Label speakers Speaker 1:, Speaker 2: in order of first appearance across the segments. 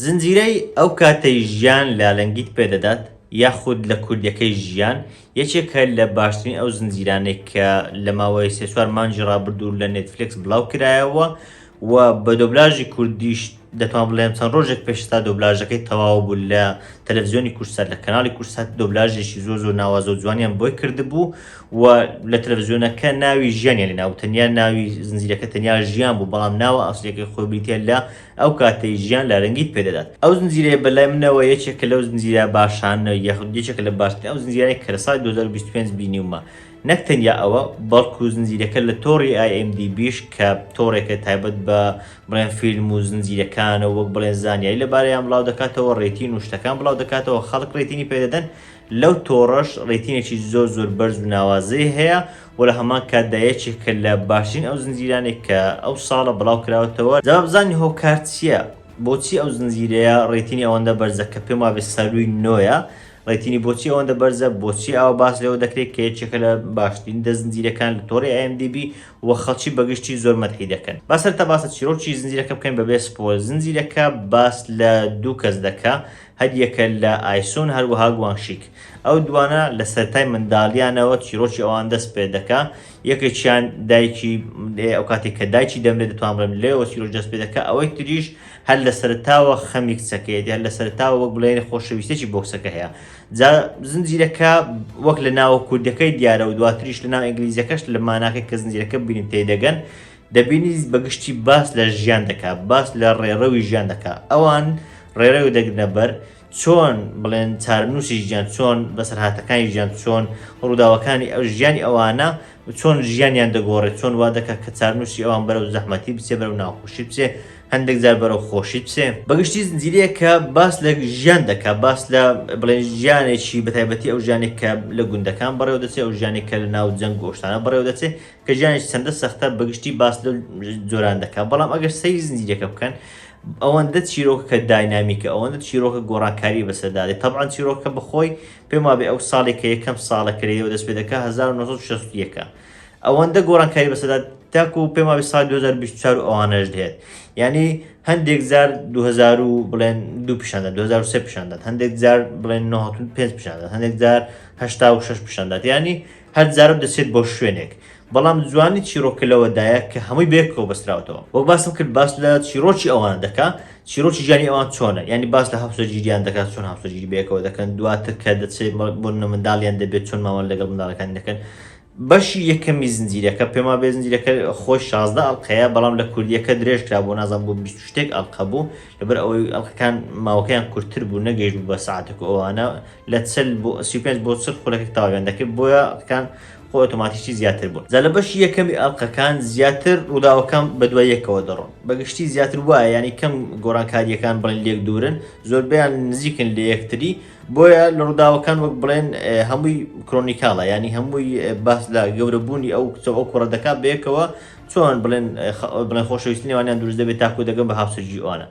Speaker 1: زنجیرەی ئەو کاتەی ژیان لالەنگیت پێ دەدات یاخود لە کوردیەکەی ژیان یەکێکە لە باشترین ئەو زنجیرانەی کە لە ماوەی سێ چوار مانگی ڕابردوو لە نێتفلێکس بڵاو کرایەوە و بە دۆبلاژی کوردیش دەتوان بڵێم چەند ڕۆژێک پێش تا دۆبلاژەکەی تەواو بوو لە تەلەڤزیۆنی کورسات لە کەناڵی کورسات دۆبلاژێکی زۆر زۆر ناوازە و جوانیان بۆی کردبوو و لە تەلەڤزیۆنەکە ناوی ژیانیان لە ناو تەنیا ناوی زنجیرەکە تەنیا ژیان بوو بەڵام ناوە ئاسیەکەی خۆی بریتە لە ئەو کاتەی ژیان لە رەنگیت پێدەدات ئەو زنجیرەیە بەلای منەوە یەکێکە لەو زنجیرە باشانە یاخود یەکێکە لە باشترین ئەو زنجیرانەی کە لە ساڵی 2025 بینیومە نەک تەنیا ئەوە، بەڵکو زنجیرەکە لە تۆڕی ئای ئێم دی بیش کە تۆڕێکە تایبەت بە بڵێن فیلم و زنجیرەکانە وەک بڵێن زانیاری لەبارەیان بڵاودەکاتەوە، رەیتین و شتەکان بڵاودەکاتەوە، خەڵک رەیتینی پێدەدەن، لەو تۆڕەش رەیتینێکی زۆر زۆر بەرز و ناوازەی هەیە و لە هەمان کاتدا یەکێکە لە باشترین ئەو زنجیرانەی کە ئەو ساڵە بڵاوکراوەتەوە، جا با بزانین هۆکار چییە؟ بۆچی ئەو زنجیرەیە رەیتینی ئەوەندە بەرزە کە پێموابێت سەرووی نۆیە؟ ڕێتینی بۆچی ئەوەندە بەرزە؟ بۆچی ئاوا باس لێوە دەکرێت کە یەکێکە لە باشترین دە زنجیرەکان لە تۆڕی IMDB و خەڵکی بەگشتی زۆر مەدحی دەکەن؟ با سەرەتا باس لە چیرۆکی زنجیرەکە بکەین بەبێ سپۆیل، زنجیرەکە باس لە دوو کەس دەکا، هەریەکە لە ئایسون هەروەها گوانگشیک. ئەو دووانە لە سەرەتای منداڵییانەوە چیرۆکی ئەوان دەست پێ دەکا، یەکێکیان دایکی ئەوکاتێک کە دایکی دەمرێت دەتوانم بڵێم لێیەوە چیرۆکی دەست پێ دەکا، ئەوەی تریش هەر لە سەرەتاوە خەمی کچەکەیەتی، هەر لە سەرەتاوە وەک بڵێن خۆشەویستێکی بۆ کچەکە هەیە. جا زنجیرەکە وەک لە ناوە کوردیەکەی دیارە و دواتریش لە ناو ئینگلیزیەکەش لە ماناکە کە زنجیرەکە بینین تێدەگەن، دەبینی بەگشتی باس لە ژیان دەکا، باس لە ڕێڕەوی ژیان دەکا. ئەوان ڕێڕەوێ دەگرنە بەر. چۆن بڵێن چارەنووسی ژیان چۆن بەسەرهاتەکانی ژیان چۆن ڕووداوەکانی ئەو ژیانی ئەوانە چۆن ژیانیان دەگۆڕێت چۆن وا دەکات کە چارنووسی ئەوان بەرەو زەحمەتی بچێ بەرەو ناخۆشی بچێ هەندێک جار بەرەو خۆشی بچێ بەگشتی زنجیرەیە کە باس لە ژیان دەکات باس لە بڵێن ژیانێکی بەتایبەتی ئەو ژیانێک کە لە گوندەکان بەڕێوە دەچێت ئەو ژیانێک کە لە ناو جەنگ گۆشتانە بەڕێوە دەچێت کە ژیانیش چەندە سەختە بەگشتی باس لەو جۆران دەکات بەڵام ئەگەر سەیری زنجیرەکە بکەن ئەوەندە چیرۆکەکە داینامیکە ئەوەندە چیرۆکە گۆڕانکاری بەسەدادێت تەبان چیرۆکە بخۆی پێم وابێ ئەو ساڵێک کە یەکەم ساڵە کرەیەوە دەست پێ دەکە 1960ەکە ئەوەندە گۆڕانکاری بەسەدا تاکو و پێما سال 2024 ئەوانەش دێت یعنی هەندێک زار 2000 بڵێن دو پیشاندە 2023 پیشاندات هەندێک زار بڵێن 95 پیشاندات هەندێک زار 86 پیشاندات ینی هەر جارە دەچێت بۆ شوێنێک، بەڵام جوانی چیڕۆکە لەوەدایە کە هەمووی بەیەکەوە بەستراوەتەوە. وەک باسم کرد باس لە چیڕۆکی ئەوان دەکا، چیڕۆکی ژیانی ئەوان چۆنە، یانی باس لە هاوسەرگیریان دەکا، چۆن هاوسەرگیری بەیەکەوە دەکەن، دواتر کە دەچێت بۆ منداڵیان دەبێت چۆن مامەڵە لەگەڵ منداڵەکانی دەکەن. بەشی یەکەمی زنجیرەکە، پێم وابێت زنجیرەکە خۆی شازدە ئەڵقەیە، بەڵام لە کوردییەکە درێژکرا بۆ نازانم بۆ بیست و شتێک ئەڵقە بوو، لەبەر ئەوەی ئەڵقەکان ماوەکەیان کورتتر بوو نەگەیشت بوو بە ساعتێک و ئەوانە لە چل بۆ سی پێنج بۆ چل خولەکەک تاویان دەکرد بۆیە کان خۆ ئۆتۆماتیکی زیاتر بوو جا لە بەشی یەکەمی ئەڵقەکان زیاتر ڕووداوەکان بە دوای یەکەوە دەڕۆن بەگشتی زیاتر وایە ینی کەم گۆڕانکاریەکان بڵێن لێک دوورن زۆربیان نزیکن لە یەکتری بۆیە لە ڕووداوەکان وەک بڵێن اه، هەمووی کرۆنیکاڵە ینی هەمووی اه، باس لە گەورەبوونی ئەو کچە ئەو کوڕە دەکات بەیەکەوە چۆن بڵێن بڵێن خۆشەویستی نێوانیان دروست دەبێت تاکو دەگەن بە هاوسەرگیری ئەوانە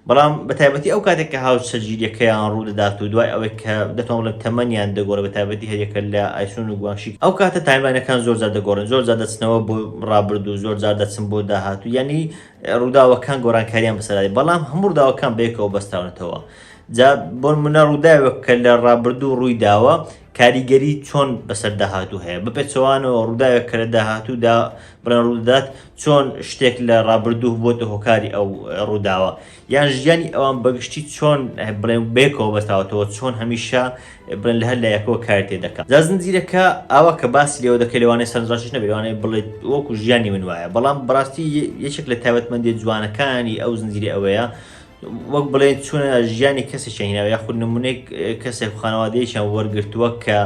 Speaker 1: بەڵام بە تایبەتی ئەو کاتێک کە هاوسەرگیریەکەیان ڕوو دەدات و دوای ئەوەی کە دەتوان بڵێن تەمەنیان دەگۆڕێت بە تایبەتی هەریەکە لە ئایسون و گوانشی ئەو کاتە تایملاینەکان زۆر زیاد دەگۆڕن زۆر زیاد دەچنەوە بۆ ڕابرد و زۆر زیاد دەچن بۆ داهاتوو یعنی ڕووداوەکان گۆرانکاریان بەسەرای بەڵام هەموو ڕووداوەکان بەیەکەوە بەستراونەتەوە جا بۆ منە ڕووداوێک کە لە ڕابردوو ڕووی داوە کاریگەری چۆن بەسەر داهاتوو هەیە؟ بەپێچەوانەوە ڕووداوێک کە لە داهاتوودا بڵێن ڕوو دەدات، چۆن شتێک لە ڕابردوو بووەتە هۆکاری ئەو ڕووداوە؟ یان ژیانی ئەوان بە گشتی چۆن بڵێن بەیەکەوە بەستاوەتەوە، چۆن هەمیشە بڵێن لە هەر لایەکەوە کاری تێ دەکات؟ جا زنجیرەکە ئاوا کە باسی لێوە دەکەی لەوانەیە سەرنجڕاکێش نەبێت، لەوانەیە بڵێیت وەکوو ژیانی من وایە، بەڵام بەڕاستی یەکێک لە تایبەتمەندییە جوانەکانی ئەو زنجیرە ئەوەیە وەک بڵێن چونە ژیانی کەسێکیان هیناوە یاخود نمونەیەک کەسێک خانەوادەیەکیان وەرگرتووە کە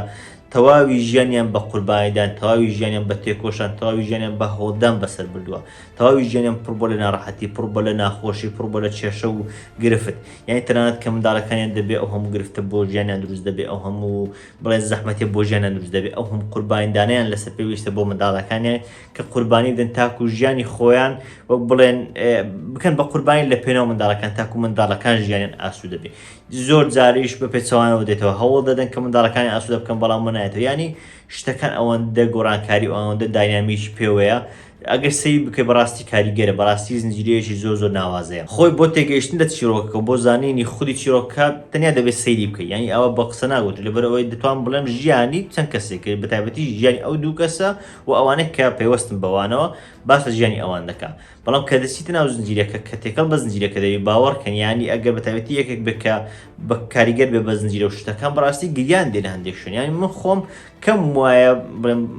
Speaker 1: تەواوی ژیانیان بە قوربانیدان تەواوی ژیانیان بە تێکۆشان تەواوی ژیانیان بە هۆدان بەسەر بردووە تەواوی ژیانیان پڕ بۆ لە ناڕەحەتی پڕ بۆ لە ناخۆشی پڕ بۆ لە کێشە و گرفت یعنی تەنانەت کە منداڵەکانیان دەبێ ئەو هەموو گرفتە بۆ ژیانیان دروست دەبێ ئەو هەموو بڵێ زەحمەتی بۆ ژیانیان دروست دەبێ ئەو هەم قوربانیدانیان لەسەر پێویستە بۆ منداڵەکانیان کە قوربانی دەن تاکو ژیانی خۆیان وەک بڵێن بکەن بە قوربانی لە پێناو منداڵەکان تاکو منداڵەکان ژیانیان ئاسو دەبێت زۆر جاریش بە پێچەوانەوە دێتەوە هەوڵ دەدەن کە منداڵەکانی ئاسوودە بکەن بەڵام منایەتەوە ینی شتەکان ئەوەندە گۆڕانکاری ئەوەندە داینامیش پێوەیە ئەگەر سەی بکە بەڕاستی کاریگەرە بەڕاستی زنجیرەیەکی زۆر زۆر ناوازەیە خۆی بۆ تێگەیشتن لە چیرۆکەکە بۆ زانینی خودی چیرۆکە تەنیا دەبێت سەیری بکە یعنی ئەوە بە قسە ناگوت لەبەرەوەی دەتوان بڵێم ژیانی چەند کەسێک کرد بەتابەتی ژیانی ئەو دوو کەسە بۆ ئەوانەی کە پەیوەستن بەوانەوە باس لە ژیانی ئەوان دەکا بەڵام کە دەچیتە ناو زنجیرەکە کە تێکەڵ بە زنجیرەکە دەوی باوەڕکەن یانی ئەگەر بە تایبەتی یەکێک بکە بە کاریگەر بێ بە زنجیرە و شتەکان بەڕاستی گریان دێن هەندێک شوێن یانی من خۆم کەم وایە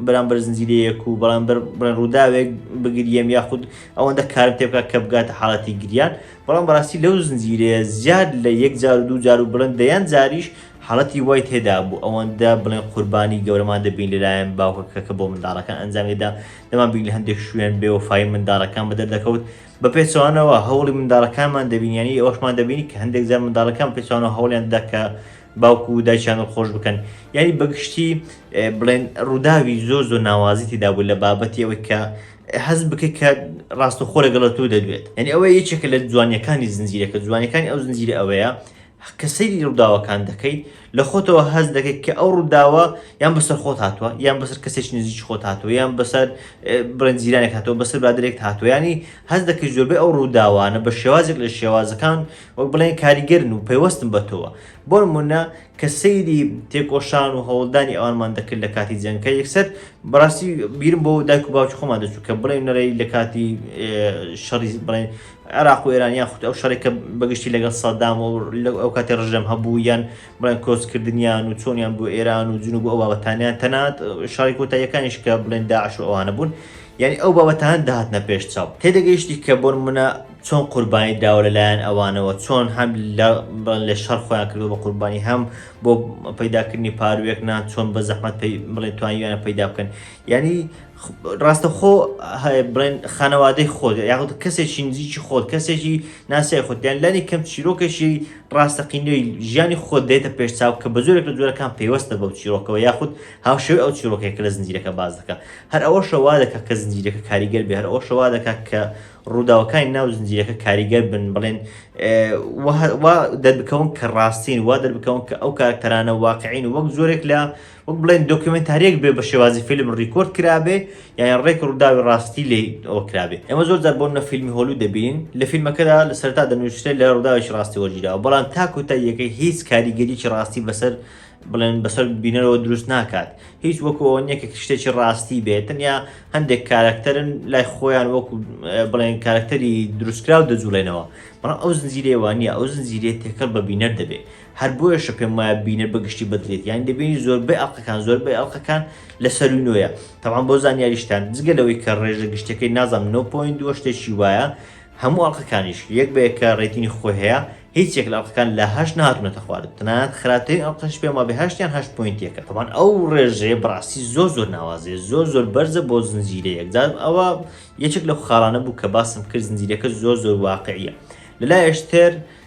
Speaker 1: بەرامبەر زنجیرەیەک و بەڵام بڵێن ڕووداوێک بگریەم یاخود ئەوەندە کارم تێ بکات کە بگاتە حاڵەتی گریان بەڵام بەڕاستی لەو زنجیرەیە زیاد لە یەک جار و دوو جار و بڵند دەیان جاریش حاڵەتی وای تێدابوو ئەوەندە بڵێن قوربانی گەورەمان دەبین لەلایەن باوکەکە کە بۆ منداڵەکان ئەنجامیدا دەمانبینی لە هەندێک شوێن بێوەفایی منداڵەکان بە دەردەکەوت بە پێچەوانەوە هەوڵی منداڵەکانمان دەبینیانی ئەوەشمان دەبینی کە هەندێک جار منداڵەکان پێچوانەوە هەوڵیان دەدا کە باوکو و دایکیان خۆش بکەن یعنی بەگشتی بڵێن ڕووداوی زۆر زۆر ناوازی تێدابوو لە بابەتی ئەوەی کە هەز بکەیت کە ڕاستەخۆ لەگەڵە تو دەدوێت یعنی ئەوە یەکێکە لە جوانیەکانی زنجیرەکە جوانەکانی ئەو زنجیرە ئەوەیە کە سەیری ڕووداوەکان دەکەیت، لە خۆتەوە هەست دەکەیت کە ئەو ڕووداوە یان بەسەر خۆت هاتووە، یان بەسەر کەسێکی نزیکی خۆت هاتووە، یان بەسەر بڵێن جیرانێک هاتووە، بەسەر برادەرێکت هاتووە، یانی هەست دەکەیت زۆربەی ئەو ڕووداوانە بە شێوازێک لە شێوازەکان وەک بڵێن کاریگەرن و پەیوەستن بە تۆوە. بۆ نموونە کە سەیری تێکۆشان و هەوڵدانی ئەوانمان دەکرد لە کاتی جەنگەکە، یەکسەر بەڕاستی بیرم بۆ دایک و باوکی خۆمان دەچوو کە بڵێن نەرێی لە کاتی شەڕی بڵێن، عێراق و ئێران یان خود ئەو شەڕەی کە بە گشتی لەگەڵ سەدام و لەو ئەو کاتی ڕژێم هەبوو یان بڵێن کۆچ کردنیان و چۆنیان بۆ ئێران و جنوب و ئەو بابەتانیان تەنانەت شەڕی کۆتاییەکانیش کە بڵێن داعش و ئەوانە بوون یعنی ئەو بابەتان دەهاتنە پێش چاو تێدەگەیشتی کە بۆن منە چۆن قوربانی دراوە لەلایەن ئەوانەوە چۆن هەم لە بڵێن لە شەڕ خۆیان کردوە بە قوربانی هەم بۆ پەیداکردنی پاروویەک نان چۆن بە زەحمەت پەی بڵێن توانیویانە پەیدا بکەن یعنی ڕاستەخۆ بڵێن خانەوادەی خۆت یاخود کەسێکی نزیکی خۆت کەسێکی ناسای خۆت یان لانی کەم چیرۆکێکی ڕاستەقینەوەی ژیانی خۆت دێتە پێش چاو کە بە زۆرێک لە جۆرەکان پێوەستە بەو چیرۆکەوە یاخود هاوشێوی ئەو چیرۆکێک لە زنجیرەکە باز دەکە هەر ئەوە شەوا دەکە کە زنجیرەکە کاریگەر بێ هەر ئەو شەوا دەکات کە ڕووداوەکانی ناو زنجیرەکە کاریگەر بن بڵێن دەربکەون کە ڕاستین وا دەربکەون کە ئەو کارکتەرانە واقعین وەک زۆرێک لە وەک بڵێن دۆکیۆمێنتارییەک بێ بە شێوازی فیلم ڕیکۆرد کرابێ یان ڕێک ڕووداوی ڕاستی لێ ئەوە کرابێ ئێمە زۆر جار بۆنە فیلمی هۆلو دەبین لە فیلمەکەدا لە سەرتا دەنووسێت لە ڕووداوێکی ڕاستی وەرگیراوە بەڵام تا کۆتاییەکەی هیچ کاریگەریی ڕاستی بەسەر بڵێن بەسەر بینەرەوە دروست ناکات هیچ وەکو ئەوە نییە کە شتێکی ڕاستی بێت تەنیا هەندێک کارکتەرن لای خۆیان وەکو بڵێن کارکتەری دروستکراو دەجوڵێنەوە بەڵام ئەو زنجیرەیەوانە ئەو زنجیرێت تێکەڵ بە بینەر دەبێت هەر بۆیەشە پێم وایە بینەر بە گشتی بەدڵێت یانی دەبینی زۆربەی ئەڵلقەکان زۆربەی ئەڵلقەکان لە سەرووی نۆیە تەوان بۆ زانیاریشتان جگە لەوەی کە ڕێژە گشتەکەی نازانم 9.2 شتێکی وایە هەموو ئەڵلقەکانیش یەک بە یەکە ڕێتینی خۆی هەیە هیچ یەک لە ئەڵلقەکان لە هەشت نهاتونەتە خوارد تەنانەت خراپترین ئەڵلقەش پێم وابێ هەشتیان هەشت پۆینتێکە تەوان ئەو ڕێژەیە بەڕاستی زۆر زۆر ناوازەیە زۆر زۆر بەرزە بۆ زنجیرە یەکجار ئەوە یەکێک لەو خاڵانە بوو کە باسم کرد زنجیرەکە زۆر زۆر واقعیە لەلایەش تر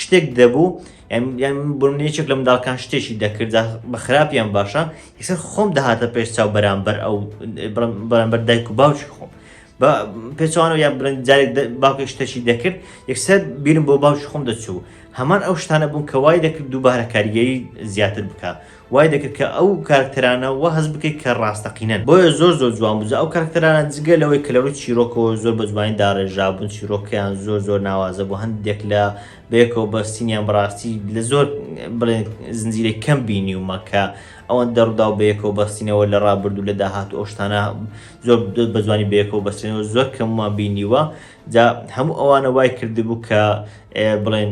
Speaker 1: شتێک دەبوو یان بنێچێک لە منداڵکان شتێکی دەکردا بە خراپیان باشە یسەر خۆم دەهاتە پێش چاو بەرامبەر ئەو بەرامبەر دایک و باوکی خۆم بە پێچوانەوە یا بڵند جارێک باوکی شتەشی دەکرد یەکسەر بیرم بۆ باوکی خۆم دەچوو هەمان ئەو شتانە بوون کە وای دەکرد دووبارە کاریگەری زیاتر بکە وای دەکرد کە ئەو کارکتەرانە وا هەست بکەیت کە ڕاستەقینەن بۆیە زۆر زۆر جوان بوو جا ئەو کارکتەرانە جگە لەوەی کە لەڕووی چیرۆکەوە زۆر بە جوانی داڕێژرابوون چیرۆکەیان زۆر زۆر ناوازە بوو هەندێک لە بەیەکەوە بەستینیان بەڕاستی لە زۆر بڵێن زنجیرەی کەم بینیومە کە ئەوەن دەڕوودا و بەیەکەوە بەستینەوە لە ڕابردوو لە داهات ئەو شتانە زۆر بە جوانی بەیەکەوە بەستێنەوە زۆر کەممان بینیوە جا هەموو ئەوانە وای کردبوو کە بڵێن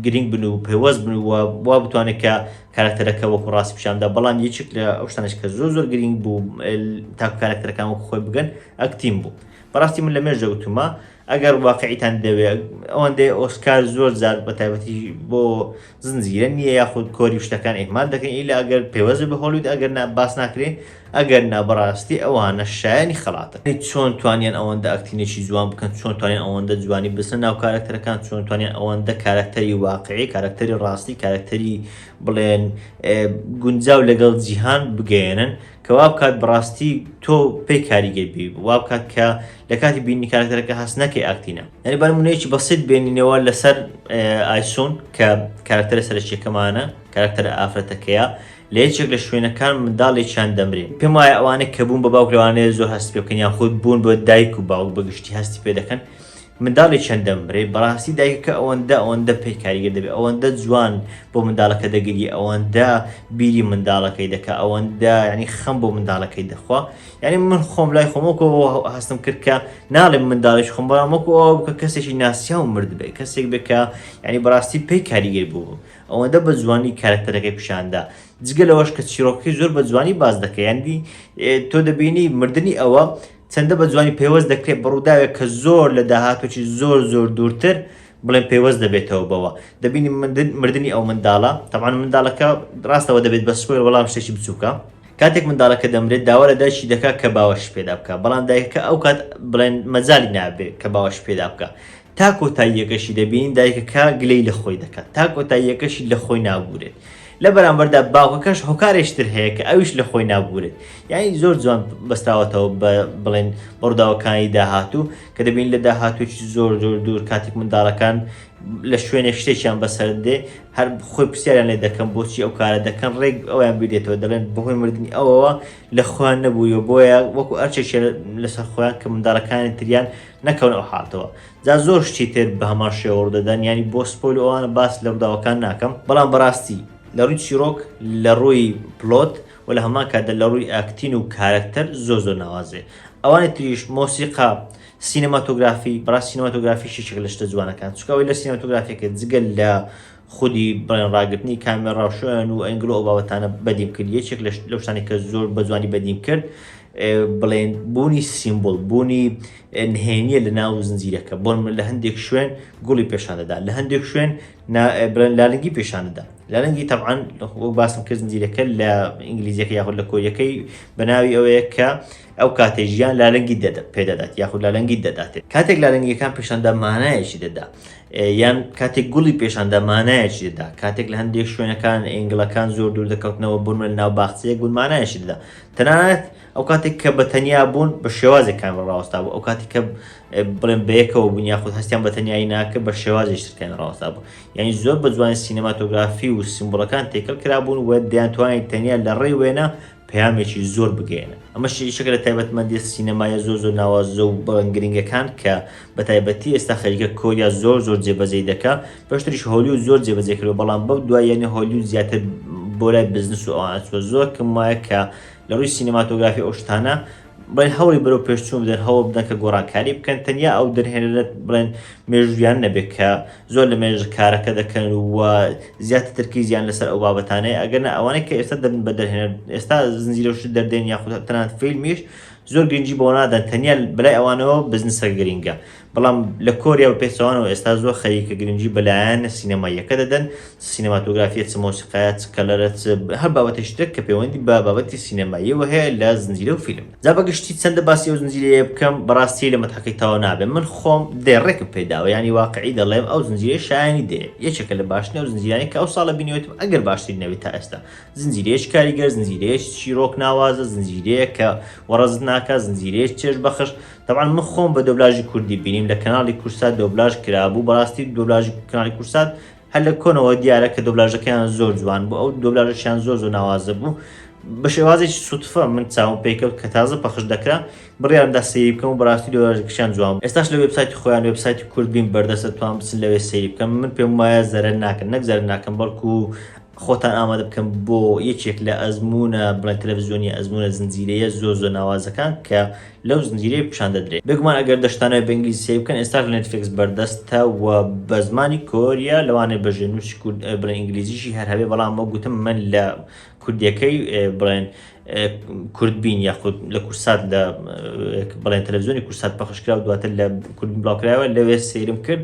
Speaker 1: گرنگ بن و پەیوەست بن و وا بتوانێت کە کاراکتەرەکە وەکو ڕاستی پیشاندا بەڵام یەکێک لە ئەو شتانەش کە زۆر زۆر گرینگ بوو تاکو کاراکتەرەکان وەکو خۆی بگەن ئەکتین بوو بەڕاستی من لە مێژ دەوتومە ئەگەر واقعیتان دەوێ ئەوەندەی ئۆسکار زۆر زار بە تایبەتی بۆ زنجیرە نییە یاخود کۆری شتەکان ئیهمال دەکەین ئیلا ئەگەر پێوەزە بە هۆلیود ئەگەر نا باس ناکرێ ئەگەر نا بەڕاستی ئەوانە شایەنی خەڵاتن. ئەی چۆن توانیان ئەوەندە ئەکتینگێکی جوان بکەن چۆن توانیان ئەوەندە جوانی بچنە ناو کارەکتەرەکان چۆن توانیان ئەوەندە کارەکتەری واقعی کارەکتەری ڕاستی کارەکتەری بڵێن گونجاو لەگەڵ جیهان بگەیەنن کە وا بکات بەڕاستی تۆ پێی کاریگەر بی وا بکات کە لە کاتی بینی کارەکتەرەکە هەست نەکەی ئاکتینە یعنی بە نمونەیەکی بەسیط بێنینەوە لەسەر ئایسون کە کارەکتەرە سەرەکیەکەمانە کارەکتەرە ئافرەتەکەیە لە یەکێک لە شوێنەکان منداڵێکیان دەمرێ. پێم وایە ئەوانە کە بوون بە باوک لەوانەیە زۆر هەست پێ بکەن یان خود بوون بە دایک و باوک بە گشتی هەستی پێ دەکەن منداڵێکیان دەمرێ بەڕاستی دایکەکە ئەوەندە ئەوەندە پێ کاریگەر دەبێ ئەوەندە جوان بۆ منداڵەکە دەگری ئەوەندە بیری منداڵەکەی دەکا ئەوەندە یعنی خەم بۆ منداڵەکەی دەخوا یعنی من خۆم لای خۆمەکەەوە هەستم کرد کە ناڵێم منداڵیش خۆم بەڵام وەکو ئەوە بکە کەسێکی ناسیاو مرد بێ کەسێک بکە یعنی بەڕاستی پێی کاریگەر بوو ئەوەندە بە جوانی کارەکتەرەکەی پیشاندا جگە لەوەش کە چیرۆکەکەی زۆر بە جوانی باز دەکە یاندی تۆ دەبینی مردنی ئەوە چەندە بە جوانی پەیوەست دەکرێت بەڕووداوێک کە زۆر لە داهاتوچی زۆر زۆر دوورتر بڵێن پەیوەست دەبێتەوە بەوە دەبینی مردنی ئەو منداڵە تەمان منداڵەکە ڕاستەوە دەبێت بە سپۆر وەڵام شتێکی بچووکە کاتێک منداڵەکە دەمرێت داوا لە دایکی دەکات کە باوەش پێدا بکە بەڵام دایکەکە ئەو کات بڵێن مەجای نابێت کە باوەش پێدا بکە تا کۆتاییەکەشی دەبینین دایکەکە گلەی لە خۆی دەکات تا کۆتاییەکەشی لە خۆی نابورێت لە بەرامبەردا باوکەکەش هۆکارێشتر هەیە کە ئەویش لە خۆی نابورێت یعنی زۆر جوان بەستراوەتەوە بە بڵێن بڕداوەکانی داهاتوو کە دەبین لە داهاتووی زۆر زۆر دوور کاتێک منداڵەکان لە شوێنێک شتێکیان بەسەر دێ هەر خۆی پرسیاریان لێ دەکەم بۆچی ئەو کارە دەکەن ڕێک ئەویان بیرێتەوە دەڵێن بەهۆی مردنی ئەوەوە لە خۆیان نەبوویەوە بۆیە وەکو ئەرچێکیان لەسەر خۆیان کە منداڵەکانی تریان نەکەونە ئەو حالتەوە جا زۆر شتی تر بە هەمان شێوەڕ دەدەن ینی بۆ سپۆل ئەوانە باس لە ڕداوەکان ناکەم بەڵام بەڕاستی لە ڕووی چیرۆک لە ڕووی پلۆت و لە هەمان کاتدا لە ڕووی ئاکتین و کارەکتەر زۆ زۆر ناوازێ ئەوانی تریش مۆسیقا سینەماتۆگرافی بڕا سینەماتۆگرافیشی شک لە شتە جوانەکان چکەوەی لە سینەماتۆگرافیەکە جگەل لە خودی بڵێن ڕاگرتنی کامێڕا و شوێن و ئەنگڵ و ئەو بابەتانە بەدیم کرد یەکێک لە لەو شتانەی کە زۆر بە جوانی بەدیم کرد بڵێن بوونی سیمبل بوونی نهێنیە لە ناو زنجیرەکە بۆن من لە هەندێک شوێن گوڵی پێشانەدا لە هەندێک شوێن بڵێن لالنگی پێشانەدا لالنگی تەعاان باسم کرد زنجیرەکە لە ئینگلیزیەکە یاخود لە کۆریەکەی بەناوی ئەوەیە کە ئەو کاتەی ژیان لالەنگی دەدە پێدەدات یاخود لالەنگی دەدات کاتێک لالەنگیەکان پێشاندا مانایەکی دەدا یان کاتێک گوڵی پێشاندا مانایەکی دەدا کاتێک لە هەندێک شوێنەکان ئنگلەکان زۆر دوور دەکەوتنەوە بوون لە ناو باخچەیەک بوون مانایەکی دەدا تەنانەت ئەو کاتێک کە بە تەنیا بوون بە شێوازێک کامل ڕاوەستا بوو ئەو کاتی کە بڵێن بەیەکەوە بوون یاخود هەستیان بە تەنیایی ناکە بە شێوازی شتکەن ڕاوەستا بوو یعنی زۆر بە جوانی سینەماتۆگرافی و سیمبڵەکان تێکەڵ کرابوون و دەیان توانین تەنیا لە ڕێی وێنە پەیامێکی زۆر بگەیەنن ئەمەش یەکێکە لە تایبەتمەندیە سینەمایە زۆر زۆر ناوازە و بەڵێن گرنگەکان کە بە تایبەتی ئێستا خەریکە کۆریا زۆر زۆر جێبەجێی دەکا پێشتریش هۆلیود زۆر جێبەجێ کردو بەڵام بەو دواییانە هۆلیود زیاتر بۆ لای بزنس و ئەوان ئەچووە زۆر کەم وایە کە لە ڕووی سینەماتۆگرافی ئەو شتانە بڵێن هەوڵی بەرەو پێشچوون بدەن، هەوڵ بدەن کە گۆڕانکاری بکەن، تەنیا ئەو دەرهێنەرە بڵێن مێژووییانە نەبێت کە زۆر لە مێژە کارەکە دەکەن و زیاتر تەرکیزیان لەسەر ئەو بابەتانەیە، ئەگەرنا ئەوانەی کە ئێستا دەبن بە دەرهێنەر، ئێستا زنجیرە و شت دەردێنن یاخود تەنانەت فیلمیش، زۆر گرنگی بەوە نادەن، تەنیا بەلای ئەوانەوە بزنسەکە گرنگە. بەڵام لە کۆریا و پێچەوانەوە ئێستا زۆر خەریکە گرنگی بە لایەنە سینەماییەکە دەدەن، چ سینەماتۆگرافییە، چ مۆسیقایە، چ کەلەرە، چ هەر بابەتێکی ترێک کە پێوەندی بە بابەتی سینەماییەوە هەیە لە زنجیرە و فیلمدا. جا بە گشتی چەندە باسی ئەو زنجیرەیە بکەم، بەڕاستی لە مەتحەکەی تەواو نابێ. من خۆم دەی ڕێکم پێ داوە، یانی واقیعی دەڵێم ئەو زنجیرەیە شایەنی دەیە. یەکێکە لە باشترین ئەو زنجیرانەی کە ئەو ساڵە بینیوێتم، ئەگەر باشترین نەبێ تا ئێستا. زنجیرەیەکی کاریگەر، زنجیرەیەکی چیڕۆک ناوازە، زنجیرەیەک کە وەڕەزت ناکات، زنجیرەیەکی چێژبەخش، تەبعەن من خۆم بە دۆبلاژی کوردی بینیم لە کەناڵی کوردسات دۆبلاژ کرابوو بەڕاستی دۆبلاژی کەناڵی کوردسات هەر لە کۆنەوە دیارە کە دۆبلاژەکەیان زۆر جوان بوو ئەو دۆبلاژەشیان زۆر زۆر ناوازە بوو بە شێوازێکی سوتفە من چاوم پێکەوت کە تازە پەخش دەکرا بڕیاردا سەیری بکەم و بەڕاستی دۆبلاژەکەشیان جوان بوو ئێستاش لە وێبسایتی خۆیان وێبسایتی کوردبین بەردەستە توان بچن لەوێ سەیری بکەم من پێم وایە زەرەر ناکەن نەک زەرەر ناکەم بەڵکو خۆتان ئامادە بکەم بۆ یەکێک لە ئەزمونە بڵێن تەلەڤزیۆنی ئەزمونە زنجیرەیە زۆر زۆر ناوازەکان کە لەو زنجیرەی پیشان دەدرێت بێگومان ئەگەر دەشتانەوێت بە ئینگلیزی سەیری بکەن ئێستاش لە نێتفلێکس بەردەستە و بە زمانی کۆریە لەوانەیە بە ژێرنووسی کورد بڵێن ئینگلیزیشی هەر هەبێ بەڵام وەک گوتم من لە کوردیەکەی بڵێن کوردبین یاخود لە کورسات لە بڵێن تەلەڤزیۆنی کورسات پەخشکرا و دواتر لە کوردبین بڵاوکرایەوە لەوێ سەیرم کرد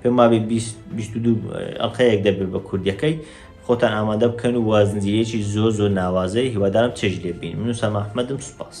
Speaker 1: پێم وابێ بیست بیست و دوو ئەڵقەیەک دەبێ بە کوردیەکەی خۆتان ئامادە بکەن و وازنجیرێکی زۆ زۆ ناوازەی هیوادارم چێژ لێ بین من و سەما ئەحمەدم سوپاس.